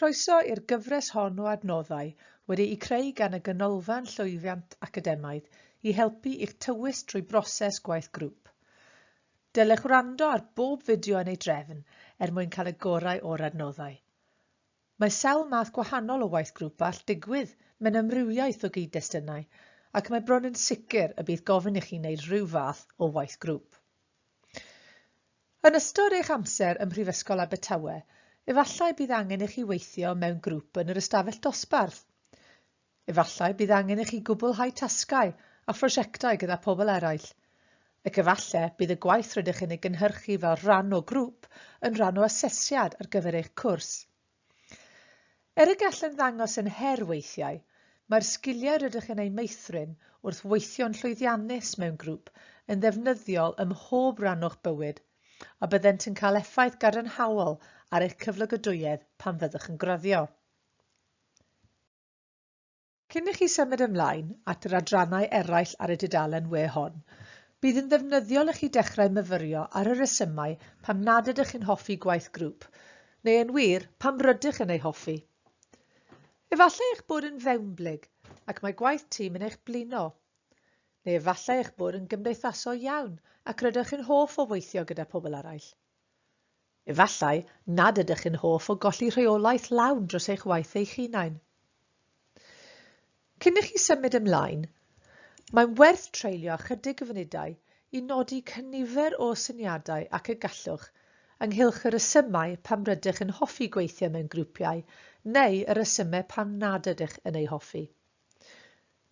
Croeso i'r gyfres hon o adnoddau wedi'u creu gan y Ganolfan Llwyddiant Academaidd i helpu i'ch tywys drwy broses gwaith grŵp. Dylech wrando ar bob fideo yn ei drefn er mwyn cael y gorau o'r adnoddau. Mae sawl math gwahanol o waith grŵp all digwydd mewn amrywiaeth o gyd-destunau, ac mae bron yn sicr y bydd gofyn i chi wneud rhyw fath o waith grŵp. Yn ystod eich amser ym Mhrifysgol Abertawe, efallai bydd angen i chi weithio mewn grŵp yn yr ystafell dosbarth. Efallai bydd angen i chi gwblhau tasgau a phrosiectau gyda phobl eraill, ac efalle bydd y gwaith rydych chi'n ei gynhyrchu fel rhan o grŵp yn rhan o asesiad ar gyfer eich cwrs. Er y gall yn ddangos yn her weithiau, mae'r sgiliau rydych chi'n eu meithrin wrth weithio'n llwyddiannus mewn grŵp yn ddefnyddiol ym mhob rhan o'ch bywyd, a byddent yn cael effaith gadarnhaol ar eich cyflogadwyedd pan fyddwch yn graddio. Cyn i chi symud ymlaen at yr adrannau eraill ar y dudalen we hon, bydd yn ddefnyddiol i chi dechrau myfyrio ar y rhesymau pam nad ydych chi'n hoffi gwaith grŵp, neu yn wir, pam rydych yn ei hoffi. Efallai eich bod yn fewnblyg ac mae gwaith tîm yn eich blino. Neu efallai eich bod yn gymdeithasol iawn ac rydych yn hoff o weithio gyda pobl eraill. Efallai nad ydych yn hoff o golli rheolaeth lawn dros eich waith eich hunain. Cyn i chi symud ymlaen, mae'n werth treulio ychydig o funudau i nodi cynifer o syniadau ac y gallwch, ynghylch y rhesymau pam rydych yn hoffi gweithio mewn grwpiau neu y rhesymau pam nad ydych yn eu hoffi.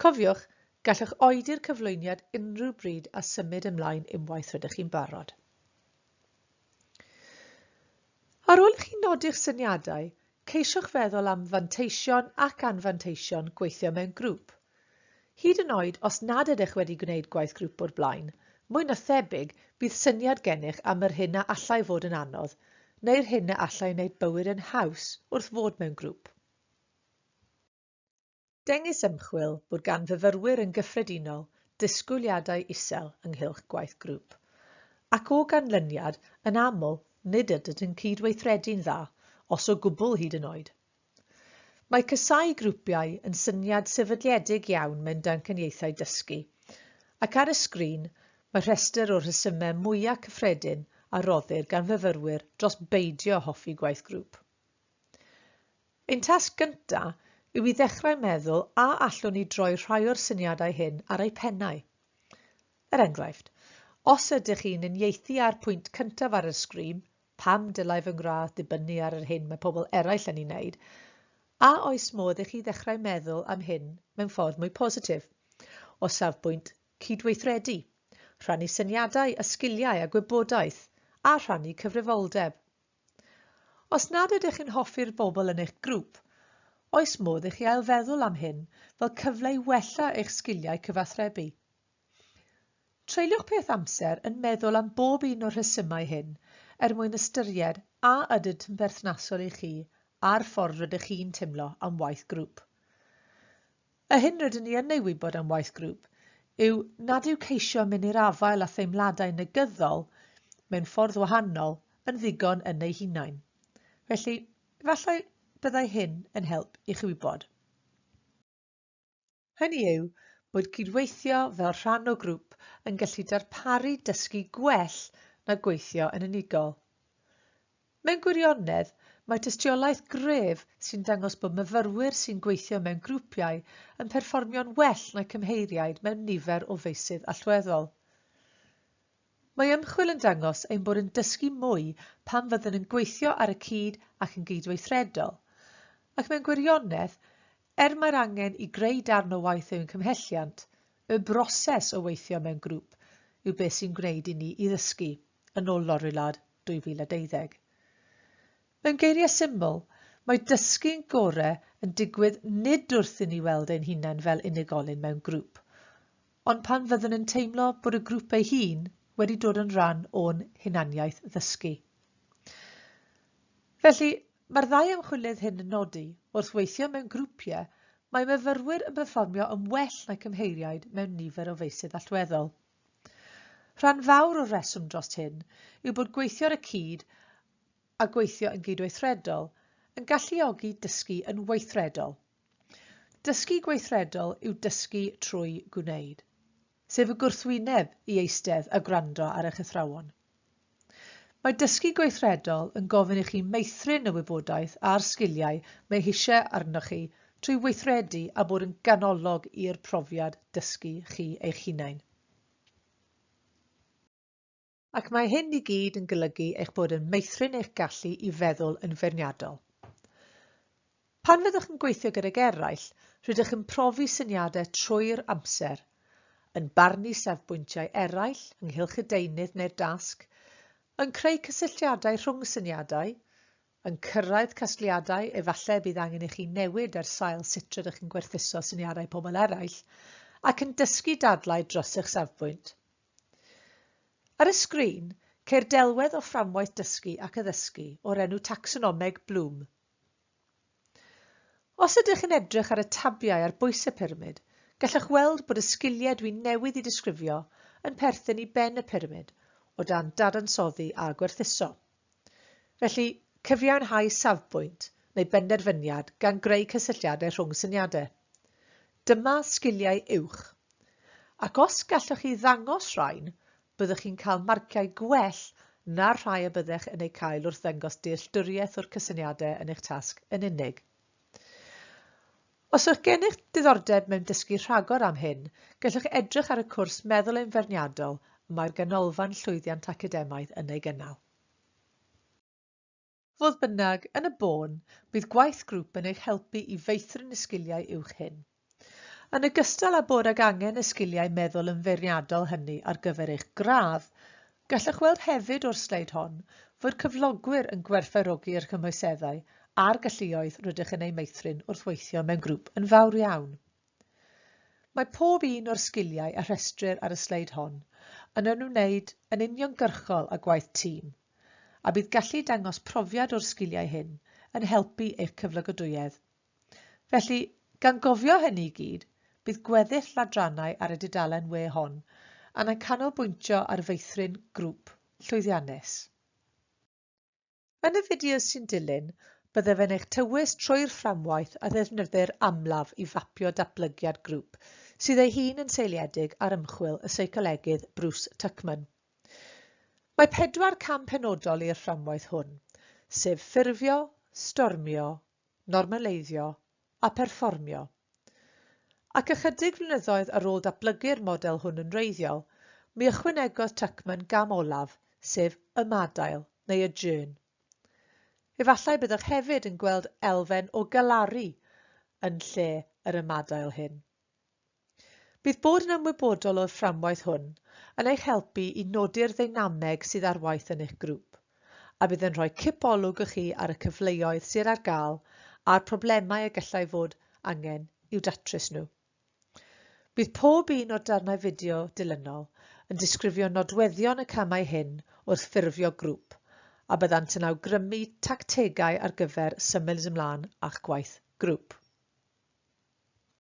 Cofiwch, gallwch oedi'r cyflwyniad unrhyw bryd a symud ymlaen unwaith rydych chi'n barod. Ar ôl i chi nodi'ch syniadau, ceisiwch feddwl am fanteision ac anfanteision gweithio mewn grŵp. Hyd yn oed os nad ydych wedi gwneud gwaith grŵp o'r blaen, mwy na thebyg bydd syniad gennych am yr hyn a allai fod yn anodd neu'r hyn a allai wneud bywyd yn haws wrth fod mewn grŵp. Dengys ymchwil bod gan fyfyrwyr yn gyffredinol disgwyliadau isel ynghylch gwaith grŵp, ac o ganlyniad, yn aml, nid ydynt yn cyd-weithredu'n dda, os o gwbl hyd yn oed. Mae casáu grwpiau yn syniad sefydliedig iawn mewn damcaniaethau dysgu, ac ar y sgrin mae rhestr o'r rhesymau mwyaf cyffredin a roddir gan fyfyrwyr dros beidio hoffi gwaith grŵp. Ein tasg gyntaf yw i ddechrau meddwl a allwn ni droi rhai o'r syniadau hyn ar eu pennau. Er enghraifft, os ydych chi'n uniaethu â'r pwynt cyntaf ar yr sgrin, pam dylai fy ngradd ddibynnu ar yr hyn mae pobl eraill yn ei wneud? A oes modd i chi ddechrau meddwl am hyn mewn ffordd mwy positif, o safbwynt cydweithredu, rhannu syniadau a sgiliau a gwybodaeth, a rhannu cyfrifoldeb? Os nad ydych chi'n hoffi'r bobl yn eich grŵp, oes modd i chi ailfeddwl am hyn fel cyfle i wella eich sgiliau cyfathrebu? Treuliwch peth amser yn meddwl am bob un o'r rhesymau hyn er mwyn ystyried a ydynt yn berthnasol i chi a'r ffordd rydych chi'n teimlo am waith grŵp. Yr hyn rydyn ni yn ei wybod am waith grŵp yw nad yw ceisio mynnu'r afael a theimladau negyddol mewn ffordd wahanol yn ddigon yn eu hunain. Felly, efallai byddai hyn yn help i chi wybod. Hynny yw, bod cydweithio fel rhan o grŵp yn gallu darparu dysgu gwell na gweithio yn unigol. Mewn gwirionedd, mae tystiolaeth gref sy'n dangos bod myfyrwyr sy'n gweithio mewn grwpiau yn perfformio'n well na'i cymheiriaid mewn nifer o feysydd allweddol. Mae ymchwil yn dangos ein bod yn dysgu mwy pan fyddwn yn gweithio ar y cyd ac yn gydweithredol, ac mewn gwirionedd, er mae'r angen i greu darn o waith yw'n cymhelliant, y broses o weithio mewn grŵp yw beth sy'n gwneud i ni i ddysgu, yn ôl Lorillard. 2012. Mewn geiriau syml, mae dysgu'n gorau yn digwydd nid wrth i ni weld ein hunain fel unigolyn mewn grŵp, ond pan fyddwn yn teimlo bod y grŵp ei hun wedi dod yn rhan o'n hunaniaeth ddysgu. Felly, mae'r ddau ymchwilydd hyn yn nodi, wrth weithio mewn grwpiau, mae myfyrwyr yn perfformio yn well na'i cymheiriaid mewn nifer o feysydd allweddol. Rhan fawr o'r rheswm dros hyn yw bod gweithio ar y cyd a gweithio yn gydweithredol yn galluogi dysgu yn weithredol. Dysgu gweithredol yw dysgu trwy gwneud, sef y gwrthwyneb i eistedd a gwrando ar eich athrawon. Mae dysgu gweithredol yn gofyn i chi meithrin y wybodaeth a'r sgiliau mae eisiau arnoch chi trwy weithredu a bod yn ganolog i'r profiad dysgu chi eich hunain. Ac mae hyn i gyd yn golygu eich bod yn meithrin eich gallu i feddwl yn feirniadol. Pan fyddwch yn gweithio gydag eraill, rydych yn profi syniadau trwy'r amser, yn barnu safbwyntiau eraill ynghylch y deunydd neu'r dasg, yn creu cysylltiadau rhwng syniadau, yn cyrraedd casgliadau efallai y bydd angen i chi newid ar sail sut rydych yn gwerthuso syniadau pobl eraill, ac yn dysgu dadlau dros eich safbwynt. Ar y sgrin, ceir delwedd o fframwaith dysgu ac addysgu o'r enw tacsonomeg Bloom, Os ydych yn edrych ar y tabiau ar bwys y pyramid, gallwch weld bod y sgiliau dwi newydd i disgrifio yn perthyn i ben y pyramid o dan dadansoddi a gwerthuso. Felly, cyfiawnhau safbwynt neu benderfyniad gan greu cysylltiadau rhwng syniadau. Dyma sgiliau uwch. Ac os gallwch chi ddangos rhain, byddwch chi'n cael marciau gwell na'r rhai y byddech yn eu cael wrth ddangos dealltwriaeth o'r cysyniadau yn eich tasg yn unig. Os yw'ch gennych diddordeb mewn dysgu rhagor am hyn, gallwch edrych ar y cwrs Meddwl yn Feirniadol y mae'r Ganolfan Llwyddiant Academaidd yn ei gynnal. Fodd bynnag, yn y bôn, bydd gwaith grŵp yn eich helpu i feithrin y sgiliau uwch hyn. Yn ogystal â bod ag angen y sgiliau meddwl yn feirniadol hynny ar gyfer eich gradd, gallwch weld hefyd o'r sleid hon fod cyflogwyr yn gwerthfawrogi'r cymhwyseddau a'r galluoedd rydych yn eu meithrin wrth weithio mewn grŵp yn fawr iawn. Mae pob un o'r sgiliau a rhestrir ar y sleid hon yn ymwneud yn uniongyrchol â gwaith tîm, a bydd gallu dangos profiad o'r sgiliau hyn yn helpu eich cyflogadwyedd. Felly, gan gofio hynny i gyd, bydd gweddill ladrannau ar y dudalen we hon yn canolbwyntio ar feithrin grŵp llwyddiannus. Yn y fideo sy'n dilyn, byddaf yn eich tywys trwy'r fframwaith a ddefnyddir amlaf i fapio datblygiad grŵp, sydd ei hun yn seiliedig ar ymchwil y seicolegydd Bruce Tuckman. Mae pedwar cam penodol i'r fframwaith hwn, sef ffurfio, stormio, normaleiddio a pherfformio. Ac ychydig flynyddoedd ar ôl datblygu'r model hwn yn wreiddiol, mi ychwanegodd Tuckman gam olaf, sef ymadael, neu adjourn. Efallai byddwch hefyd yn gweld elfen o galaru yn lle yr ymadael hyn. Bydd bod yn ymwybodol o'r fframwaith hwn yn eich helpu i nodi'r ddeinameg sydd ar waith yn eich grŵp, a bydd yn rhoi cipolwg i chi ar y cyfleoedd sydd ar gael a'r problemau y gallai fod angen i'w datrys nhw. Bydd pob un o'r darnau fideo dilynol yn disgrifio nodweddion y camau hyn wrth ffurfio grŵp, a byddant yn awgrymu tactegau ar gyfer symud ymlaen â'ch gwaith grŵp.